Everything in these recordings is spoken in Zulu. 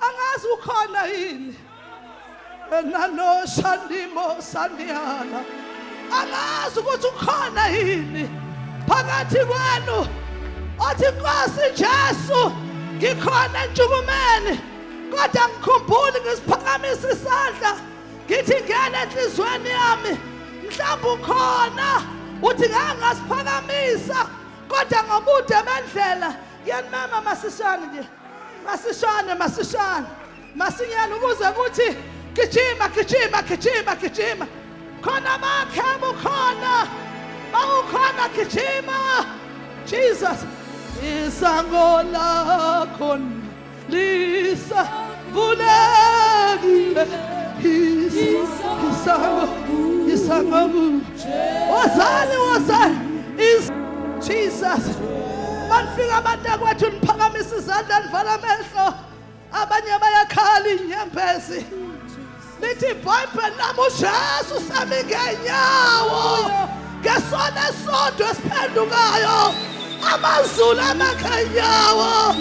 angazi ukhona yini enalo sandimo sandihala angazi ukuthi ukhona yini phakathi kwenu othi Nkosi Jesu ngikhona entshukumeni kodwa ngikhumbuli ngisiphakamisa isandla ngithi ngena enhlizweni yami mhlawumbe ukhona uthi ngeke ngasiphakamisa kodwa ngobude bendlela yenimema masishane nje masishane masishane masinyane ukuze kuthi gijima gijima gijima gijima khona bakhe abukhona bawukhona gijima jesus isango lakho lisa vulekile isango isango wozani wozani is Jesus banifika abantu akwethu niphakamisa izandla nivala amehlo abanye bayakhala inyembezi lithi ibhayibheli lami ujesu sami ngenyawo ngesona esonto esiphendukayo amazulu amakhenyawo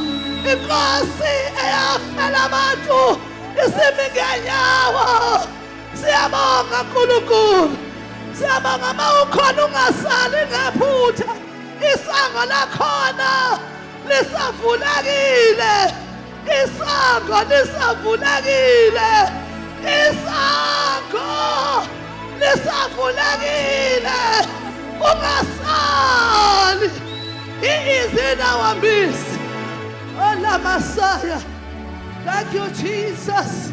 inkosi eyafela abantu isimi ngenyawo Siyabonga Nkulunkulu. Siyabonga uma ukhona ungasali ngephutha. Isango lakhona lisavulekile. Isango lisavulekile. Isango lisavulekile. Ungasali. He is in our midst. Olamasaya. Thank you, Jesus.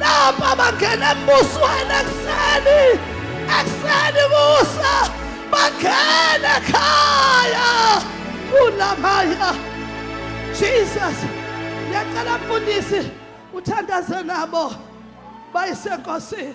lapho abangena embusweni ekuseni ekuseni kusa bangene ekhaya kulamaya jesus ngiyacela mfundisi uthandaze nabo bayisenkosini